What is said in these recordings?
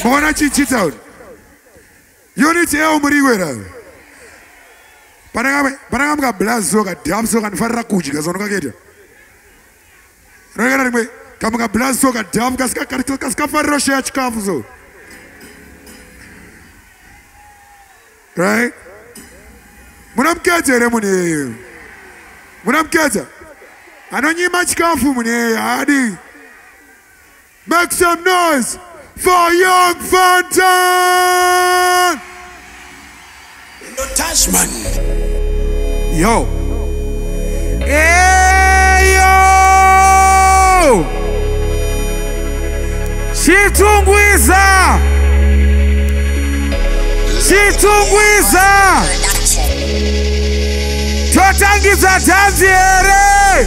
Mwana chichita uri. Unit yao muri kwera. Panaka panaka mga blaz soka dam soka nifarira kudya zona kaketa. Rega rimwe kamga blaz soka dam kaska kaska kaska farira share chikafu so. Right? Muna mkete ere mune. Muna mkete. Anonyima chikafu mune hadi. Make some noise for young Fantan! No Tasman. Yo. Hey, yo! Chitungwiza! Chitungwiza! Totangidza dhanzi here?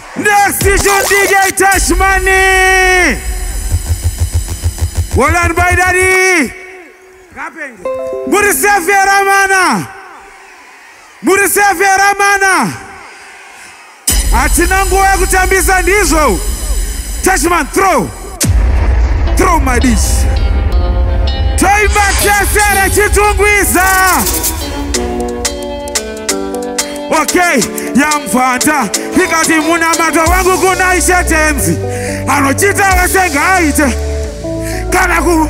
Next is your DJ Tash Money. Well done, by daddy. Murisefe Ramana. Murisefe Ramana. Hatina nguva yekutambisa ndizvo. Tashman throw. Throw my dish. Taimba Chesere Chitungwiza. Okay, yamvanda ikati munamato wangu kuna ishe tenzi anochita wese ngaaite kana ku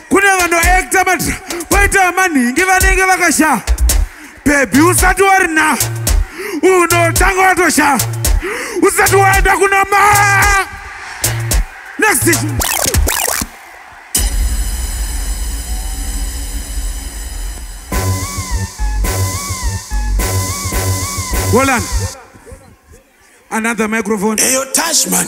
kune vanoekta matra kwaita vamanhingi vanenge vakashaa bhebhi usati warina unotanga watoshaa usati waenda kuna ma next issue. Hold on. Another microphone. Hey, yo, Tashman.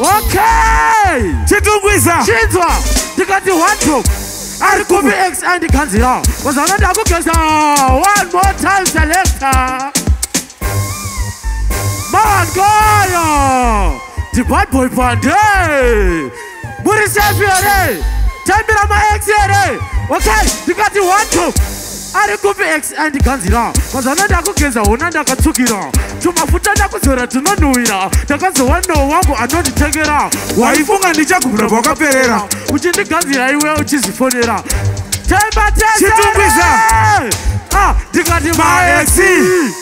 Okay! Chitungwiza! Chinzwa! Ndikati wardrobe! Ari kupi ex andikanzira? Wazana ndakugeza! One more time selector! Mawangoyo! The bad boy Pande! muri safe here taimbira maex here okay ndikati one two ari kupi ex andiganzira mazana ndakugeza hona ndakatsukira tumafuta ndakuzora tunonhuwira ndakazowa no wangu anonditengera waifunga ndichagumira kwakaperera uchindiganzira iwe uchizifonera taibatesitungwiza ah, ndikati maexi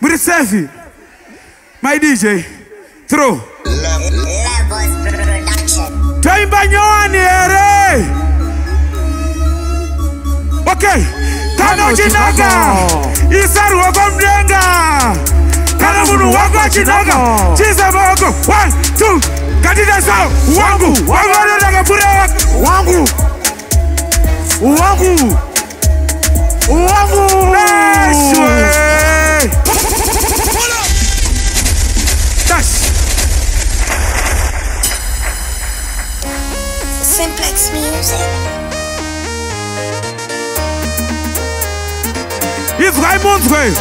Muri safe. My DJ. Throw. Taimba nyowani here. Okay. Kana chinaka. Isa ruoko mdenga. Kana munhu wako achinaka. Chisa maoko. One, two. Katita sao. Wangu. Wangu anotaka pure wangu. Wangu. Wangu. izwai munzwe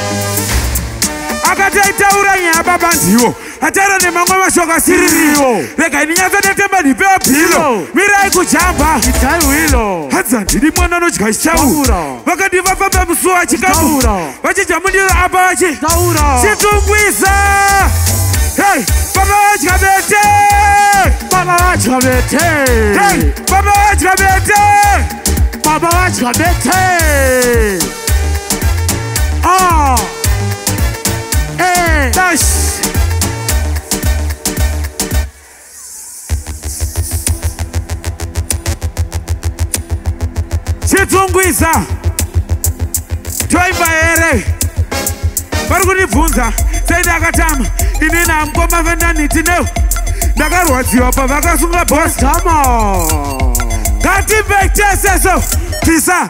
akati aitaura nyaya baba ndiwo atara nemamwe mashoko asiririwo regai ndinyatsa ndatemba ndipewa bhilo mirai kujamba hanzi handidi mwana anodya chichauro vakati vafamba musuwo achikamu vachidya mundiro apa vachi chitungwisa hey, baba vadya bete baba vadya bete hey, baba vadya bete baba vadya bete ah. Eh, dash. Chitungwiza. Toimba here. Vari kundibvunza sei ndakatama ini namukoma vendaniti neu ndakarwadziwa pavakasunga boss. Come on. Ngatimbei tese so. Tisa.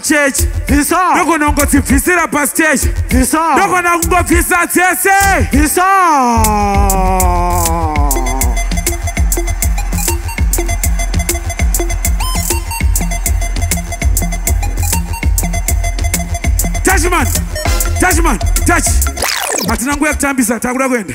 chechi bvisa ndogona kungodzibvisira pasiteshi bvisa ndogona kungobvisa dzese bvisa tachman tachman tachi hatina nguya kutambisa takuda kuenda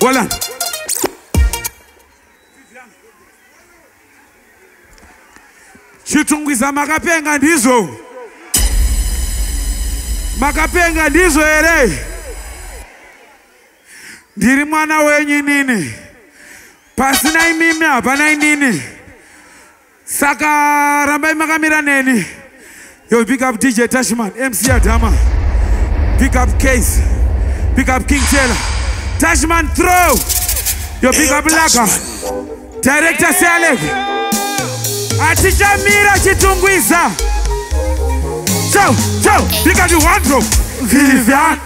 Bolan. Chitungwiza makapenga ndizvo. Makapenga ndizvo here? Ndiri mwana wenyu nini. Pasina imimi hapana inini. Saka rambai makamira neni. Yo pick up DJ Tashman, MC Adama. Pick up Case. Pick up King Taylor. Tashman throw. Yo pick up Laka. Director Selek. Atichamira chitungwiza. Ciao, ciao. Pick up the one drop. Vivian.